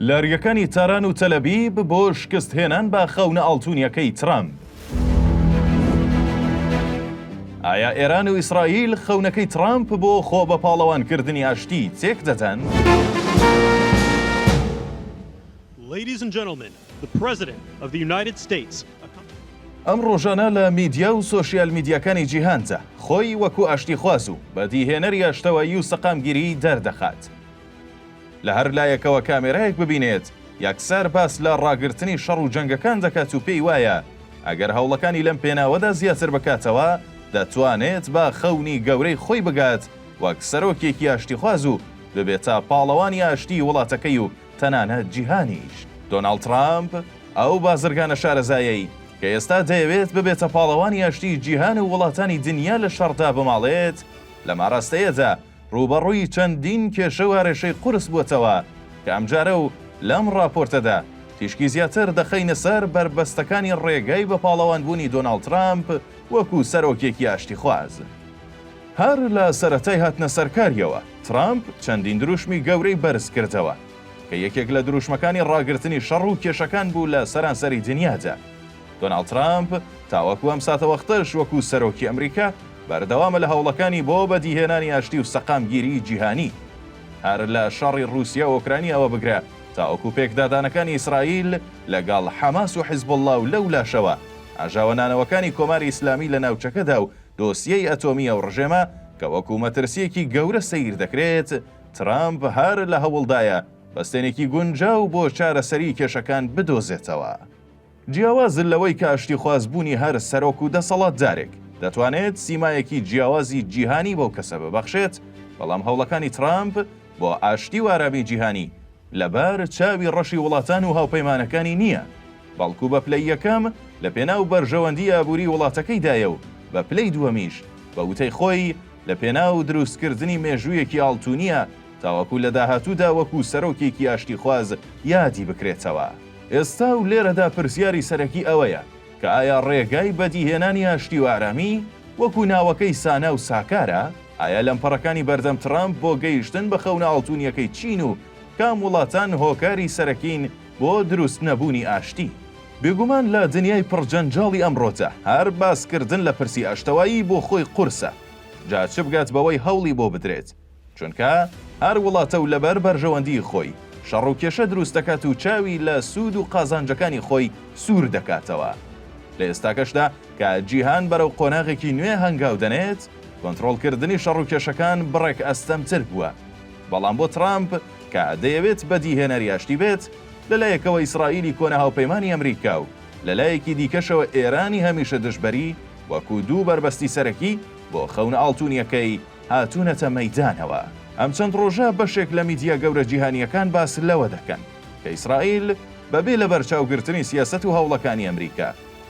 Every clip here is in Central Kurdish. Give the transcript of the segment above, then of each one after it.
لەریەکانی تاران و تەلەبیب بۆ شکست هێنان بە خەونە ئاڵتونیەکەی ترامپ. ئایا ئێران و ئیسرائیل خەونەکەی ترامپ بۆ خۆ بە پاڵەوانکردنی ئاشتی تێک دەدەن؟ ئەم ڕۆژانە لە میدیا و سۆشیال میدیاکانی جیهاندا خۆی وەکو ئاشتیخواز و بەدیهێنەری ئاشتەوایی و سەقامگیری دەردەخات. لە هەر لایەکەوە کامێرایەک ببینێت، یەکسەر باس لە ڕاگرتنی شەڕ و جەنگەکان دەکات و پێی وایە ئەگەر هەوڵەکانی لەم پێناوەدا زیاتر بکاتەوە، دەتوانێت بە خەونی گەورەی خۆی بگات وەک سەرۆکێکی ئاشتیخواز و ببێتە پاڵەوانی ئاشتیی وڵاتەکەی و تەنانەت جیهانیش. دۆناڵد ترامپ ئەو بازرگانە شارەزایەی کە ئێستا دەیەوێت ببێتە پاڵەوانی ئاشتیی جیهان و وڵاتانی دنیا لە شەڕ دابماڵێت، لەم ئاراستەیەدا ڕووبەڕووی چەندین کێشە و ئارێشەی قورس بووەتەوە کە ئەمجارە و لەم ڕاپۆرتەدا تیشکی زیاتر دەخەینە سەر بەربەستەکانی ڕێگای بە پاڵەوانبوونی دۆناڵد ترامپ وەکوو سەرۆکێکی ئاشتیخواز. هەر لە سەرەتای هاتنە سەرکارییەوە، ترامپ چەندین دروشمی گەورەی بەرز کردەوە، کە یەکێک لە دروشمەکانی ڕاگرتنی شەڕ و کێشەکان بوو لە سەرانسەری دنیادا. دۆناڵد ترامپ تاوەکو ئەم ساتەوەختەش وەکو سەرۆکی ئەمریکا بەردەوامە لە هەوڵەکانی بۆ بەدیهێنانی ئاشتی و سەقامگیریی جیهانی. هەر لە شەڕی ڕووسیا و ئۆکرانیاوە بگرە تاوەکو پێکدادانەکانی ئیسرائیل لەگەڵ حەماس و حیزبوڵڵا و لەولاشەوە ئاژاوە نانەوەکانی کۆماری ئیسلامی لە ناوچەکەدا و دۆسیەی ئەتۆمی ئەو ڕژێمە کە وەکو مەترسییەکی گەورە سەیر دەکرێت، ترامپ هەر لە هەوڵدایە بەستێنێکی گونجاو بۆ چارەسەریی کێشەکان بدۆزێتەوە. جیاواز لەوەی کە ئاشتیخواز بوونی هەر سەرۆک و دەسەڵاتدارێک دەتوانێت سیمایەکی جیاوازی جیهانی بەو کەسە ببەخشێت، بەڵام هەوڵەکانی ترامپ بۆ ئاشتی و ئارامیی جیهانی، لەبار چاوی ڕەشی وڵاتان و هاوپەیمانەکانی نییە، بەڵکو بە پلەی یەکەم لە پێناو بەرژەوەندی ئابووری وڵاتەکەیدایە و بە پلەی دووەمیش بە وتەی خۆی لە پێناو دروستکردنی مێژوویەکی ئاڵتونییە تاوەکو لە داهاتوودا وەکو سەرۆکێکی ئاشتیخواز یادی بکرێتەوە. ئێستا و لێرەدا پرسیاری سەرەکی ئەوەیە کە ئایا ڕێگای بەدیهێنانی ئاشتی و ئارامی وەکو ناوەکەی سانا و ساکارە؟ ئایا لەمپەڕەکانی بەردەم ترامپ بۆ گەیشتن بە خەونە ئاڵتونیەکەی چین و کام وڵاتان هۆکاری سەرەکین بۆ دروست نەبونی ئاشتی؟ بێگومان لە دنیای پڕ جەنجاڵی ئەمڕۆدا هەر باسکردن لە پرسی ئاشتەوایی بۆ خۆی قورسە جا چ بگات بەوەی هەوڵی بۆ بدرێت چونکە هەر وڵاتە و لەبەر بەرژەوەندی خۆی شەڕ و کێشە دروست دەکات و چاوی لە سود و قازانجەکانی خۆی سور دەکاتەوە لە ئێستاکەشدا کە جیهان بەرەو قۆناغێکی نوێ هەنگاو دەنێت، کۆنترۆڵکردنی شەڕوکێشەکان بڕێک ئەستەمتر بووە. بەڵام بۆ ترامپ، کە دەیەوێت بەدیهێنەری ئاشتی بێت، لەلایەکەوە ئیسرائیلی کۆنە هاوپەیمانی ئەمریکا و لەلایەکی دیکەشەوە ئێرانی هەمیشە دژبەری، وەکو دوو بەربەستی سەرەکی بۆ خەونە ئاڵتونیەکەی هاتونەتە مەیدانەوە. ئەم چەند ڕۆژە بەشێک لە میدیا گەورە جیهانیەکان باس لەوە دەکەن، کە ئیسرائیل بەبێ لەبەرچاوگرتنی سیاسەت و هەوڵەکانی ئەمریکا،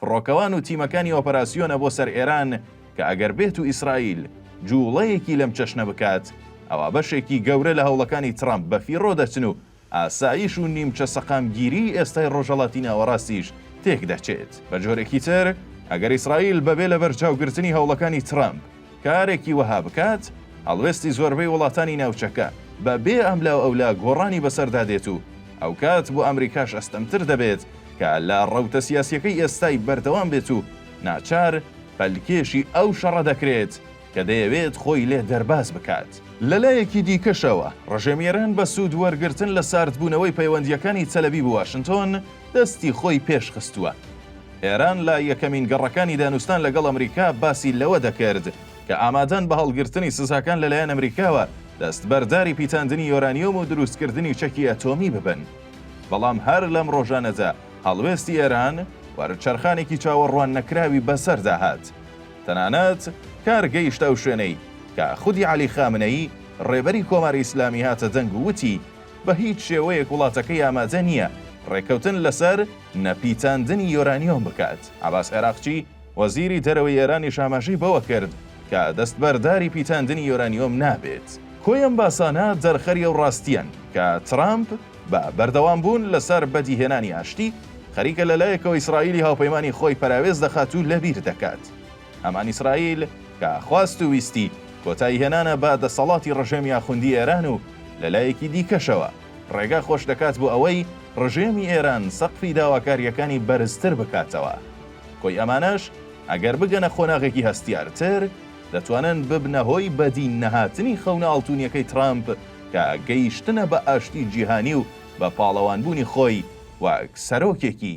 فڕۆکەوان و تیمەکانی ئۆپەراسیۆنە بۆ سەر ئێران کە ئەگەر بێتو ئیسرائیل جووڵەیەکی لەم چەشنە بکات ئەوا بەشێکی گەورە لە هەوڵەکانی ترەمپ بەفیڕۆ دەچن و ئاسایش و نیمچە سەقامگیریی ئێستای ڕۆژهەڵاتی ناوەڕاستیش تێکدەچێت. بەجۆرێکی تر، ئەگەر ئیسرائیل بەبێ لەبەرچاوگرتنی هەوڵەکانی ترەمپ، کارێکی وەها بکات، هەڵوێستی زۆربەی وڵاتانی ناوچەکە بە بێ ئەملاو ئەولا گۆڕانی بەسەردا دێت و ئەوکات بۆ ئەمریکاش ئەستەمتر دەبێت کە لە ڕەوتە سیاسیەکەی ئێستای بەردەوام بێت و ناچار پەلکێشی ئەو شەڕە دەکرێت کە دەیەوێت خۆی لێ دەرباز بکات. لە لایەکی دیکەشەوە، ڕژێمی ئێران بە سوود وەرگرتن لە ساردبوونەوەی پەیوەندییەکانی تەلەبیب و واشنتۆن، دەستی خۆی پێش خستووە. ئێران لە یەکەمین گەڕەکانی دانوستان لەگەڵ ئەمریکا باسی لەوە دەکرد کە ئامادەن بە هەڵگرتنی سزاکان لەلایەن ئەمریکاوە دەستبەرداری پیتاندنی یۆرانیۆم و دروستکردنی چەکی ئەتۆمی ببن. بەڵام هەر لەم ڕۆژانەدا هەڵوێستی ئێران وەرچەرخانێکی چاوەڕواننەکراوی بەسەردا هات. تەنانەت کار گەیشتە ئەو شوێنەی کە خودی عەلی خامنەیی ڕێبەری کۆماری ئیسلامی هاتە دەنگ و وتی بە هیچ شێوەیەک وڵاتەکەی ئامادە نییە ڕێککەوتن لەسەر نەپیچاندنی یۆرانیۆم بکات. عەباس عێراقچی، وەزیری دەرەوەی ئێرانیش ئاماژەی بەوە کرد کە دەستبەرداری پیچاندنی یۆرانیۆم نابێت. کۆی ئەم باسانە دەرخەری ئەو ڕاستییەن کە ترامپ بە بەردەوامبوون لەسەر بەدیهێنانی ئاشتی، خەریکە لە لایەکەوە ئیسرائیلی هاوپەیمانی خۆی پەراوێز دەخات و لەبیر دەکات. هەمان ئیسرائیل کە خواست و ویستی کۆتاییهێنانە بە دەسەڵاتی ڕژێمی ئاخوندی ئێران و لە لایەکی دیکەشەوە، ڕێگا خۆش دەکات بۆ ئەوەی ڕژێمی ئێران سەقفی داواکارییەکانی بەرزتر بکاتەوە. کۆی ئەمانەش ئەگەر بگەنە قۆناغێکی هەستیارتر، دەتوانن ببنە هۆی بەدی نەهاتنی خەونە ئاڵتونیەکەی ترامپ کە گەیشتنە بە ئاشتی جیهانی و بە پاڵەوانبوونی خۆی وەک سەرۆکێکی